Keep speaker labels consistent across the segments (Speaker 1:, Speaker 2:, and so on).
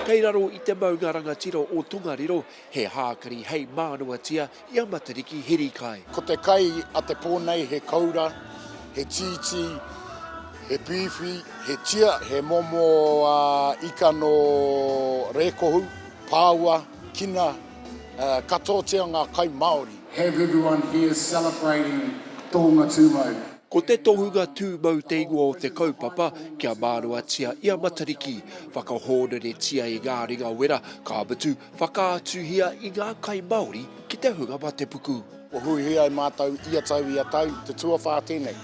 Speaker 1: Kei raro i te maunga rangatira o Tongariro he hākari hei mānoatia i a Matariki Hirikai. Ko te kai a
Speaker 2: te pō nei he koura, he tītī, he pīwhi, he tia, he momo ika nō Rēkohu, Pāua, Kina, katoatia ngā kai Māori. Have everyone
Speaker 3: here celebrating Tōnga Tūmau. Ko te tohunga
Speaker 1: tūmau te ingoa o te kaupapa kia māruatia i a Matariki, whakahōreretia i ngā ringa wera, ka mutu, whakaatuhia i ngā kai Māori ki te hunga matepuku. Kua huihui ai
Speaker 2: mātou ia tau, ia tau, te tuawhā tēnei.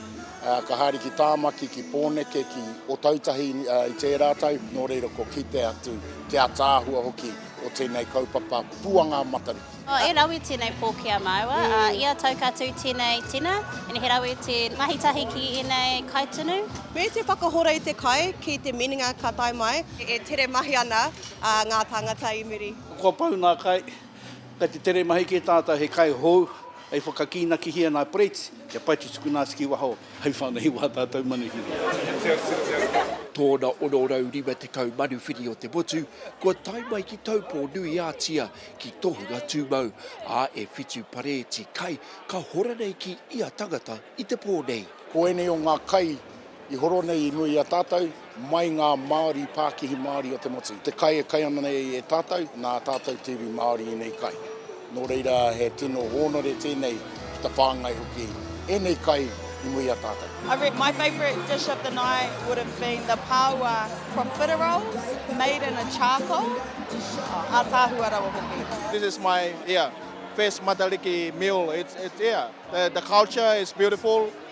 Speaker 2: Ka haere ki Tāmaki, ki Pōneke, ki Otautahi i tērā tau, nō reira kua kite atu te ataahua hoki o tēnei kaupapa Puanga Matariki. E rawe tenei
Speaker 4: po ki a maua, a ia tau ka tu tenei tina, ina he rawe te mahi tahi ki enei kaitunu. Me te whakahora
Speaker 5: i te kai ki te minenga ka tae mai. E tere mahi ana nga tangata i muri. Kua pau nga kai,
Speaker 6: kai te tere mahi ke tatou he kai hou hei whakakinakihia na Preets kia pai te tukuna atu ki waho hei whanei wa tatou manuhiri.
Speaker 1: Tōna 650 manuwhiri o te motu, kua tae mai ki Taupō-nui-ā-Tia ki tohunga tū mau, ā, e whitu pareeti kai ka hora nei ki ia tangata i te pō nei. Ko ēnei o ngā
Speaker 2: kai i horo nei i mua i a tātou, mai ngā Māori, Pākihi Māori o te motu. Te kai e kai ana nei e tātou, nā tātou te iwi Māori ēnei kai. Nō reira, he tino hōnore tēnei. ki ta whangai hoki enei kai i muri a tatou. I reckon my favourite
Speaker 7: dish of the night would have been the paua profiteroles made in a charcoal, oh ataahua rawa hoki. This is my yeah
Speaker 8: first Matariki meal, it's yeah the culture is beautiful.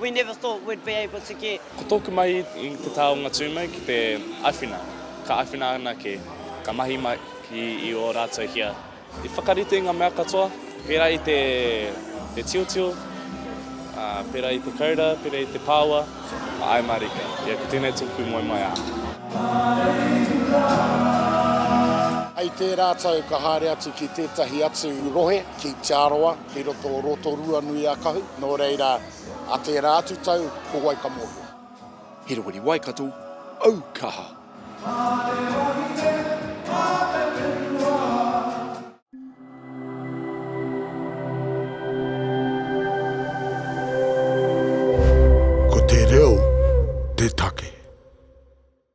Speaker 9: We never thought we'd be able to get. Ko tōku mahi i
Speaker 10: te taonga tūmau ki te awhina, ka awhina anake, ka mahi mahi i ō rātou hia. I whakarite ngā mea katoa, pērā i te tiotio, pērā i te koura, pērā i te pāua, mā ai mārika. Ia, ko tēnei tōku moemoeā.
Speaker 2: Hei tērā tau ka haere atu ki tētahi atu rohe ki Te Arawa. Kei roto o Rotorua nui a Kahu, nō reira, a tērā atu tau, ko wai ka mōhio?
Speaker 1: He
Speaker 2: rohe
Speaker 1: Waikato aukaha. Ko te reo te take.